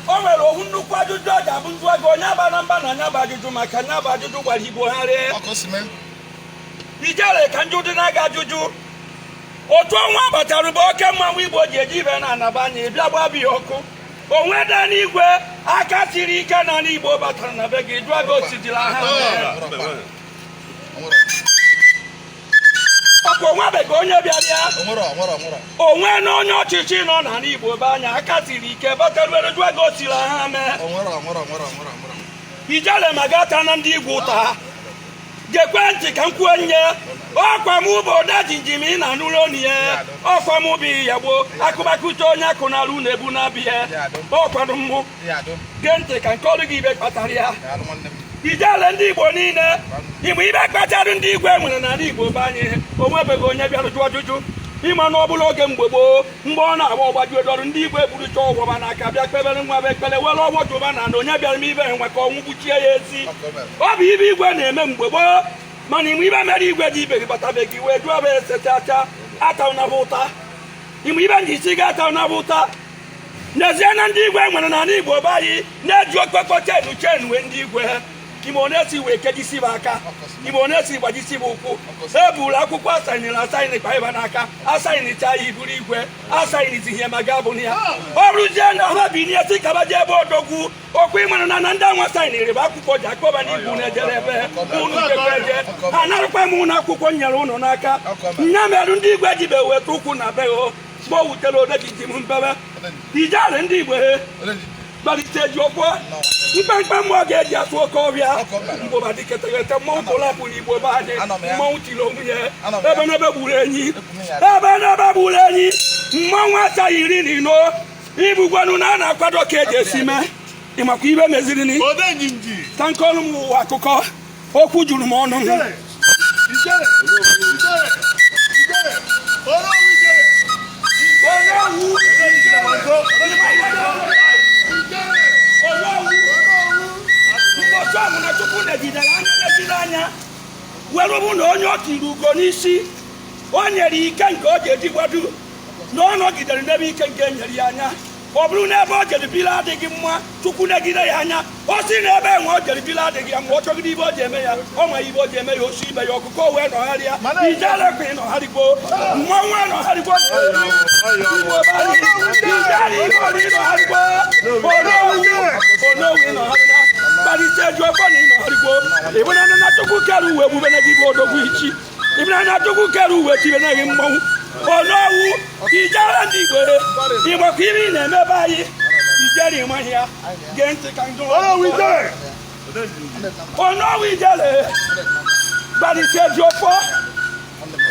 o nwere ofu nnukwu ajụjụ ọ ga-abụ m jụọ gị onye abana mba na nya bụ ajụjụ maka nya bụ ajụjụ gbara igbo gharịị ijele ka m jụdịnụ gị ajụjụ otu ọnwa batara be oke mmanwụ igbo ji eji ibe na anambra anyị bịa gbaa be ya ọkụ o nwedị ndị igwe aka siri ike n'ana igbo batara na be gị jụọ gị o sidiri aha mere. ọkwa o nwebeghị onye bịara ya o nwere onye ọchịchị nọ n'ana Igbo be anyị aka siri ike bataruere jụọ gị o siri aha mee ijele ma gị atana ndị igwe ụta ha gekwe ntị ka m kwuo nye ọkwa m bụ odejimjim ị na-anụrụ onu ya ọkwa m bụ ya gboo akụbakụta onye akụ na-alụ na-ebu na-abịa ọkwanụ mmụ gee ntị ka m kọọrọ gị ife kpatara ya ijele ndị igbo niile ị ma ife kpatara ndị igwe nwere n'ala igbo be anyị o nwebeghị onye bịara jụọ ajụjụ ị ma na ọ bụrụ oge mgbe gboo mgbe ọ na-agba ọ gbajuo dọrọ ndị igwe burucha ọfọ fa n'aka bịa kpebere nya bụ ekpere were ọfọ jụba na na onye bịara mee ife a nwa ka ọnwụ gbuchie ya ezi ọ bụ ife igwe na-eme mgbe gboo mana ị ma ife mere igwe ejibeghi bata be gị wee jụọ gị ese chacha atana fa ụta ị ma ife m ji sị gị atana fa ụta n'ezie na ndị igwe nwere n'ala igbo be anyị na-eji okpekpo chenu chenu wee ndị igwe ha ị ma one e si wee kejisie fa aka ị ma one e si gbajisie fa ụkwụ e buru akwụkwọ asainịrị asainị kpai fa n'aka asainịcha ya ị bụrụ igwe asainịzi ihe ma ga bụrụ ya o ruzie na ha binie sị ka fa jee be odogwu okwu ị mara na na ndị a nwa sainịrị fa akwụkwọ ja-akpọ fa na unu jere ebe unu jekwa eje anarakwa m unu akwụkwọ m nyere ụnụ n'aka nya mere ndị igwe ejibeghi weta ụkwụ na be mgbe o wutere odejimjim mbebe ijele ndị igbo he gbalite ji ọkwa mkpamkpa mmụọ ga-eji atụ oke ọbịa mgbụba dịketeghete mmọnwụ tụlapụ n'igbo be anyị mmọnwụ tiri onwe ya ebenebe gburu enyi ebenebe gburu enyi mmọnwụ achaghị iri na ino ibugwenu na a na-akwado ka eji esi mee ị makwa ife mezirini ka m kọọrọ ụmụ ụwa akụkọ okwu juru m ọnụ na chukwu negidere anya were fụ na onye o turu ugo n'isi o nyere ike nke ọ ga-eji gbado na ọ nọgidere n'ebe ike nke nyere ya anya ọ bụrụ na ebe o jeri biri adịghị mma chukwu negide ya anya o si na ebe nwa o jeri biri adịghị ya mma ọ chọgide ibe o ji eme ya ọ ma ibe o ji eme ya osi ibe ya ọkụkọ wee nọgharịa ijele kwa ịnọgharịgbo mmanwụ ịnọgharịgbo onowu ịnọgharịa barrister ejiofor na ịnọgharịgbo ịbụrụ na chukwu kere ụwa ebube na gị bụ odogwu ichi ịbụnanya chukwu kere ụwa tibenaghị mmanwụ onowu ijele ndị igbo ịmakwa ibe na-eme be anyị ijele ịmaghị ya gee ntị ka m jụọ onowu ijele barrister ejiofor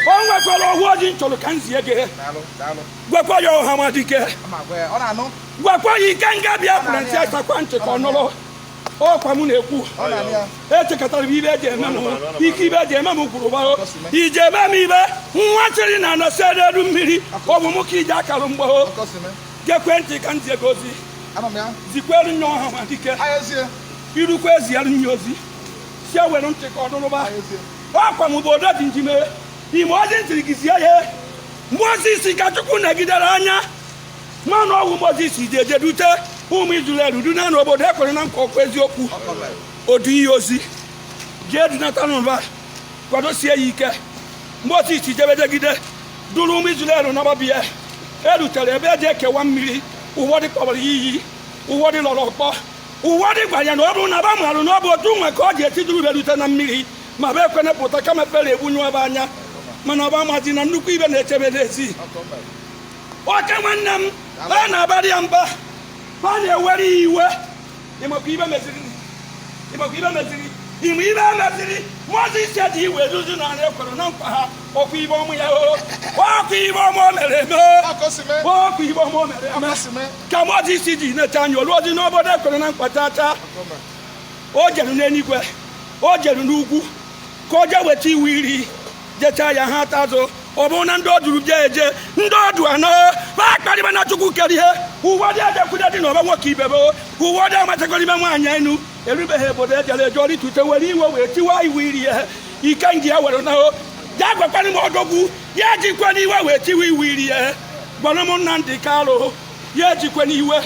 o nwekwara ofu ozi m chọrọ ka m zie gị gwakwa ya ọhamadike gwakwa ya ikenga biafra ntị asakwa ntị ka ọ nụrụ ọkwa m na-ekwu echekọtara m ibe eji eme m ike ibe eji eme m kwuru gbago iji eme m ibe nwa chịrị na anọsi elu mmiri ọ bụ m ka iji akarụ mgbagho gekwe ntị ka m zie gị ozi zikwere nye ọhamadike irukwa eziara ya ozi sị ya were ntị ka ọ nụrụba ọkwa m bụ odo dị njime ime ozi m sịrị gị zie ya mozis ka chukwu negidere anya mana ọ wụ mozis ji eje dute ụmụ izrel duna n'obodo e kwere na nkwa ọkwa eziokwu o duo ya ozi jee dunata nụ ba kwadosie ya ike mozis jebe jegide duru ụmụ izrel na ba abịa erutere ebe eji ekewa mmiri ụfọdụ kpọbara ya iyi ụfọdụ lọrọ ọkpọ ụfọdụ gwara ya na ọ bụrụ na ba marụ na ọ bụ otu nwa ka ọ ga-esi duru ba rute na mmiri ma ba ekwene pụta kama fero egbunyụa ba anya mana ba amazi na nnukwu ibe na-eche ba n'ezi oke nwanne m a na-abara ya mba a na-ewere ya iwe ịmakwa ibe meziri ịmakwa ibe meziri ịma ibe meziri mozis dị iwe ezuzu n'anị ekwere na nkwa ọkwa ibe ọmụ ya o ọkwa ibe ọma o mere eme ọkwa ibe ọma o mere eme ka mozis ji neta anya o lurozi n'obodo ekwere na nkwa tata o jeru n'eluigwe o jeru n'ugwu ka o jee weta iwu iri jechaa ya ha ata azụ ọ bụrụ na ndị o duru jee eje ndị o du anọ ba akparịbana chukwu kere ihe ụfọdụ ejekwude dinaba nwoke ibe ba ụfọdụ amachakọrọ ime nwaanyị enu erubeghị obodo ejere eje ọ rịtute were iwe wee tiwa iwu iri ihe ikenga were nahụ ya gwakwana m odogwu ya ejikwana iwe wee tiwa iwu iri ihe gwara m nnamdi kalu ya ejikwana iwe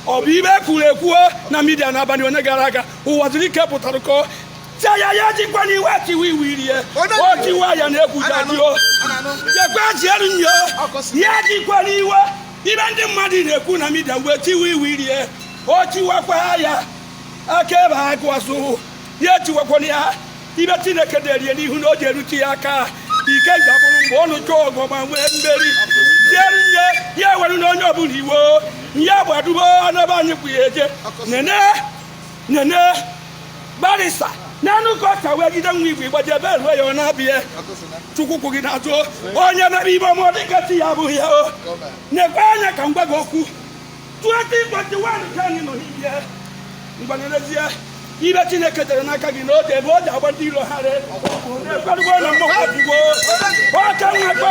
ọ bụ ibe ekwuru ekwuo na midia n'abalị one gara aga uwazuruike pụtara kọọ Chaya ya ejikwana iwe tiwa iwu iri o tiwa ya na egwu ya dio jekwa jielu nyo ya ejikwana iwe ibe ndị mmadụ na-ekwu na midia wee tiwa iwu iri o tiwakwa ya aka ebe ha gụazụ ya etiwakwana ya ibe chineke derie n'ihu na o ji erute ya aka ike ga-abụrụ mgbe ọ nụcha ọgụ ma nwee mmeri jieru nye ya ewere na onye ọbụla iwe ya gbadubo anaba anyị kwụ ya eje nene nene barisa n'anụ ka ọka wee gide nwa igwe igbaji ebe eruo ya ọ na-abịa chukwu kwụ gị n'azụ onye mere ibe ọmụ dịka ti ya abụghị ya o nekwe anya ka m gwa gị okwu 2021 ka anyị nọ n'ibie mgbanyerezie ibe chineke dere n'aka gị n'oge ebe o ji agba ndị iro ha re na-ekwerugbo na mmụọ ọgwụgwo ọka nwekwa